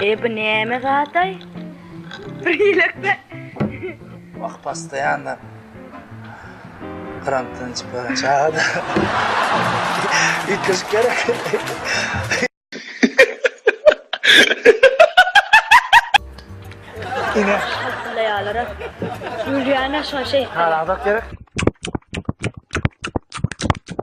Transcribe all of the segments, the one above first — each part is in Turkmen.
Eý bu näme zataý? Bir ýelekde. Wah pastaýanda krantdan içip ýören çagada. Üýtgeşik gerek. Ine. Hakyllaýalar a. Gülýän aşa şeýtdi. Hara zat gerek.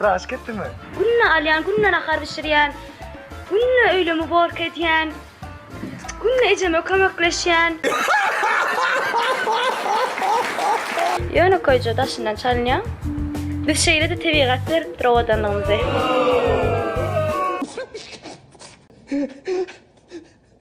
Rahat gepdiňmi? Günde alýan, günde nahar bişirýän, günde öýlem uborka edýän, günde ejeme kömekleşýän. Ýönekeýje daşyndan çalynýan. Biz şeýle-de tebigat beripdir owadanlygymyzy.